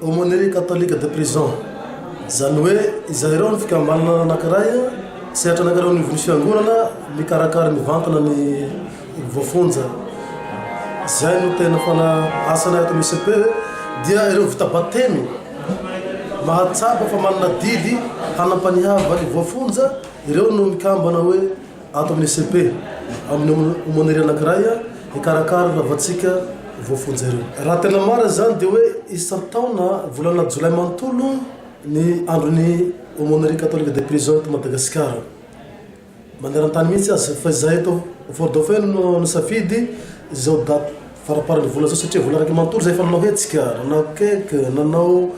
Aumônerie catholique de prison, izany hoe izay ireo ny fikambanana anankiray sehatra anankiray ao anivon'ny fiangonana mikarakara mivantana ny voafonja. Izay no tena fana asanay ato amin'ny ICP dia ireo vita batemy mahatsapa fa manana didy hanam-panihavana ny voafonja, ireo no mikambana hoe. Ato amin'ny ECP, amin'ny aumônerie anankiray, hikarakara ireo havantsika voafonja ireo. Raha tena marina izany dia hoe isan-taona volana jolay manontolo ny andron'ny Aumônerie Catholique des Prisons eto Madagasikara. Maneran-tany mihitsy aza fa izahay eto Fort-Dauphin no nisafidy izao daty. faraparan'ny volana zao satria volana raiky manontolo zay efa nanao hetsika, nanao cake, nanao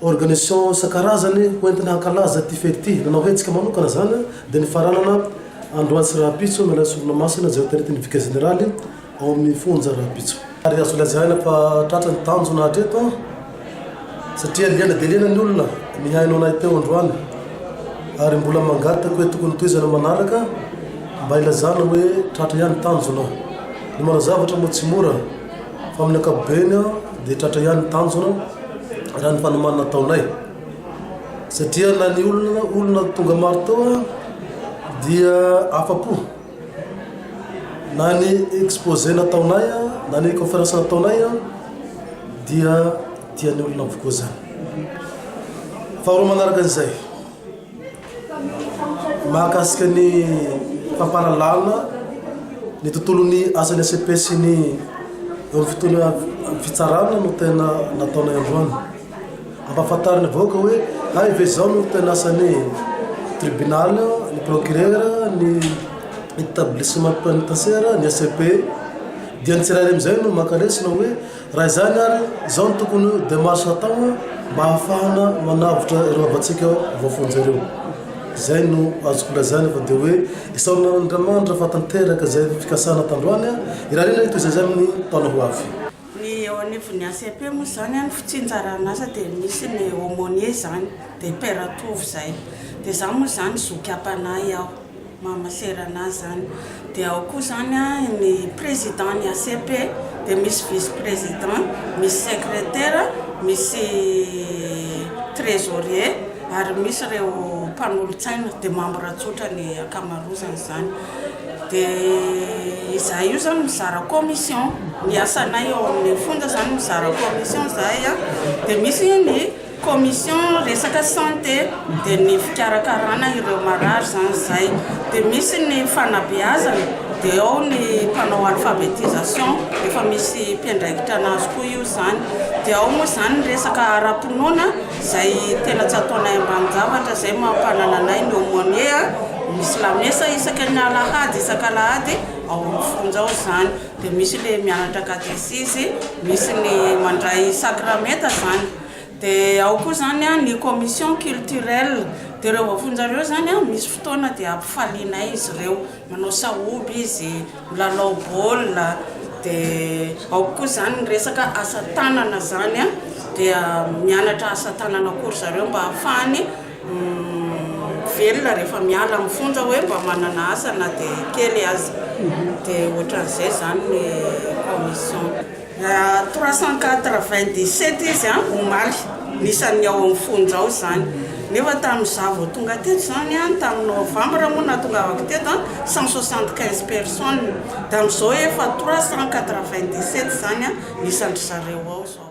organisation isan-karazany ho entina hankalaza ity fety ity, nanao hetsika manokana zany dia nifaranana androany sy rahampitso ny alain'ny sorona masina izay hoteritin'ny vicaire général ao amin'ny fonja rahampitso. Ary azo lazaina fa tratra ny tanjona hatreto. Satria liana dia liana ny olona nihaino anay teo androany ary mbola mangataka hoe tokony tohizana manaraka mba ilazana hoe tratra ihany tanjona. Ny manao zavatra moa tsy mora fa amin'ny ankapobeny dia tratra ihany ny tanjona raha ny fanomanana ataonay satria na ny olona olona tonga maro teo dia afa-po. Na ny exposé nataonay na ny conférence nataonay dia tian'ny olona avokoa izany. Faharoa manaraka an'izay, mahakasika ny fampahalalana ny tontolon'ny asan'ny ACP sy ny eo amin'ny fitsarana no tena nataonay androany. Ampahafantarin'ny vahoaka hoe hay ve izao no tena asan'ny tribunal, ny procureur, ny etablissement penitentiaire, ny ACP. Dia ny tsirairay amin'izay no maka lesona hoe raha izany ary izao no tokony ho démarche hatao mba hahafahana manavotra ireo havantsika voafonja ireo. Izay no azoko lazaina fa dia hoe isaorana an'Andriamanitra fa tanteraka izay fikasana tandroany irariana ny toy izay izany ny taona ho avy. Ny eo anivon'ny ACP moa izany an, fitsinjaran'asa dia misy ny aumônier izany dia père antovo izay dia izaho moa izany zoky am-panahy aho maha masera an'azy izany dia ao koa izany an ny président ny ACP dia misy vice président misy secrétaire misy trésorier ary misy ireo mpanolotsaina dia membre tsotra ny ankamarozany izany Dia izahay io izany mizara commission, ny asanay ao amin'ny fonja izany mizara commission izahay a, dia misy ny commission resaka santé, dia ny fikarakarana ireo marary izany izay, dia misy ny fanabeazana, dia ao ny mpanao alphabetisation, efa misy mpiandraikitra anazy koa io izany, dia ao moa izany ny resaka ara-pinoana. Zay tena tsy ataonay ambany zavatra zay mampanana anay ny aumônier a, misy lamesa isaka ny alahady isaka alahady ao amin'ny fonja ao zany dia misy le mianatra katesizy, misy ny mandray sakramenta zany dia ao koa zany a ny commission culturelle dia ireo voafonja ireo zany a misy fotoana dia ampifalianay izy ireo. manao sahoba izy, milalao baolina, dia ao koa izany ny resaka asa tanana izany an, dia mianatra asa tanana koa ry zareo mba hahafahany velona rehefa miala amin'ny fonja hoe mba manana asa na dia kely aza, dia ohatran'izay izany ny commission. Trois cent quatre vingt dix sept izy an, omaly, ny isan'ny ao amin'ny fonja ao izany. Nefa tamin'izaho vao tonga teto izany an, tamin'ny novambra moa nahatongavako teto an, cent soixante quinze personnes. Dia amin'izao efa trois cent quatre vingt dix sept izany an, ny isan-dry zareo ao izao.